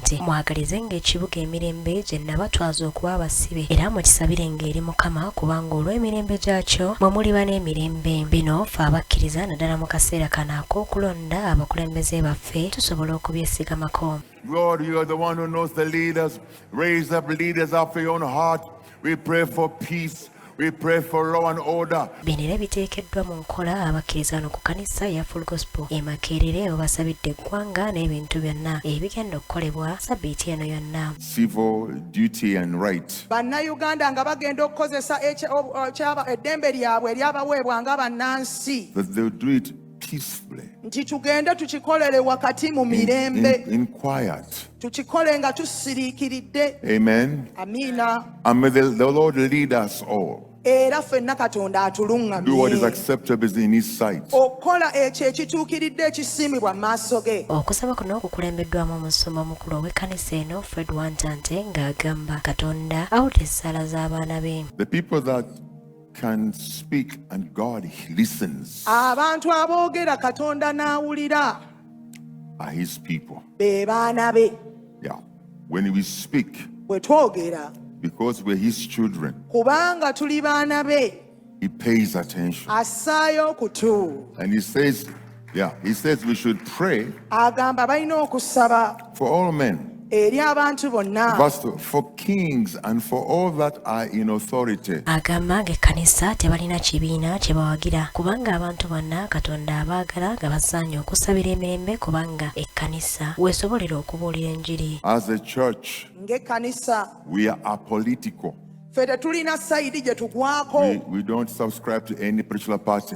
nti mwagalizenga ekibuga emirembe gye nabatwaza okuba abasibe era mukisabirenga eri mukama kubanga olw'emirembe gyakyo mwe muliba n'emirembe bino fe abakkiriza naddala mu kaseera kano ak'okulonda abakulembeze baffe tusobola okubyesigamako Lord, you are the one who knows the leaders. Raise up leaders after your own heart. We pray for peace. We pray for law and order. Bino era biteekeddwa mu nkola abakkiriza wano ku kanisa ya Full Gospel e Makerere obasabidde eggwanga n'ebintu byonna ebigenda okukolebwa sabbiiti eno yonna. Civil duty and right. Bannayuganda nga bagenda okukozesa eddembe lyabwe eryabaweebwa nga bannansi. That they do it peacefully. nti tugende tukikolere wakati mu mirembe in, in, in quiet. tukikole nga tusiriikiridde Amen. amiina And may the, the Lord lead us all. era fenna katonda Do what is atuluŋŋamye acceptable in His sight. okukola ekyo ekituukiridde ekisiimibwa mu maaso ge okusaba kuno kukulembeddwamu omusumba omukulu ow'ekkanisa eno fred wantante ng'agamba katonda awulira essaala z'abaana be The people that can speak and God listens. abantu aboogera katonda n'awulira are his people. be baana be Yeah. When we speak, bwe twogera because we're his children, kubanga tuli baana be he pays attention. assaayo okutu And he says, Yeah, he says we should pray agamba balina okusaba for all men. eri abantu bonna Verse 2 For kings and for all that are in authority. agamba ng'ekkanisa tebalina kibiina kye bawagira kubanga abantu bonna katonda abaagala nga basaanye okusabira emirembe kubanga ekkanisa weesobolera okubuulira enjiri As a church, ng'ekkanisa we are apolitical. ffe tetulina sayidi gye tugwako We, we don't subscribe to any particular party.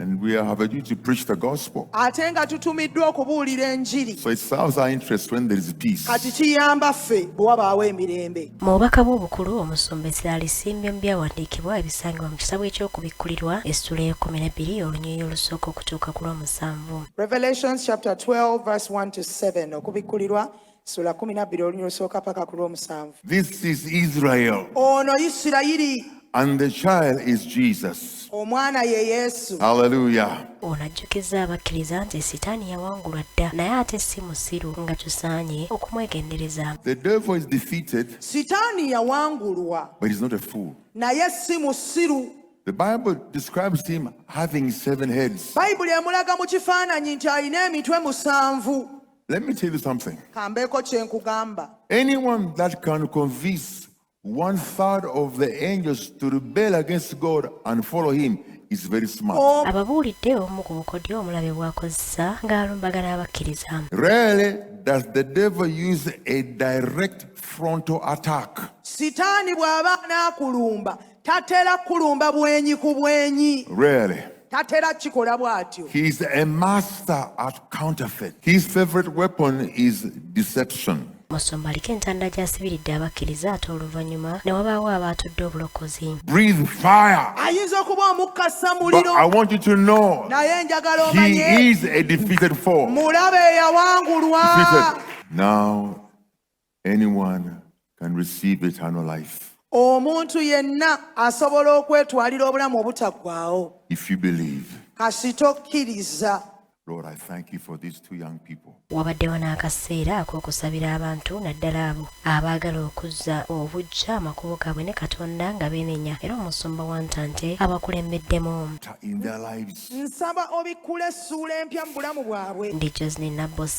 And we have a duty to preach the gospel. So it serves our interest when there is peace. Mu bubaka bwe obukulu omusumba essira alisimbye mu byawandiikibwa ebisangibwa mu kitabo eky'okubikkulirwa essula ey'ekkumi n'ebbiri olunyiriri olusooka okutuuka ku lw'omusanvu. Revelations chapter 12 verse 1 to 7 okubikkulirwa sula kumi nabbiri oluny olusooka paka ku lwomusanvu this is israel ono isirayiri and the child is jesus omwana ye yesu haleluya ono ajjukizza abakkiriza nti sitaani yawangulwa dda naye ate si musiru nga tusaanye okumwegendereza sitaani yawangulwa naye si musiru The Bible describes him having seven heads. Bible emulaga mu kifaananyi nti alina emitwe musanvu. Let me tell you something. kambeeko kye nkugamba Anyone that can convince one third of the angels to rebel against God and follow Him is very smart. Oh. ababuulidde obumu ku bukodyo omulabe bw'akozesa ng'alumbagana abakkiriza Rarely does the devil use a direct frontal attack. sitaani bw'aba anaakulumba Tatera kulumba bwenyi ku bwenyi. Really? Tatera kikola bwatyo. He is a master at counterfeit. His favorite weapon is deception. musumba aliko entanda gyasibiridde abakkiriza ate oluvannyuma ne wabaawo abaatudde obulokozi ayinza okuba omukkasa muliro naye enjagala omanye mulabe eyawangulwa Anyone can receive eternal life. omuntu yenna asobola okwetwalira obulamu obutaggwaawo kasita okkiriza wabaddewo n'akaseera ak'okusabira abantu naddala abo abaagala okuzza obujja amakubo gaabwe ne katonda nga beenenya era omusumba wa ntante abakulembeddemu nsaba obikkula essuula empya mu bulamu bwabwe ndi josni nabbosa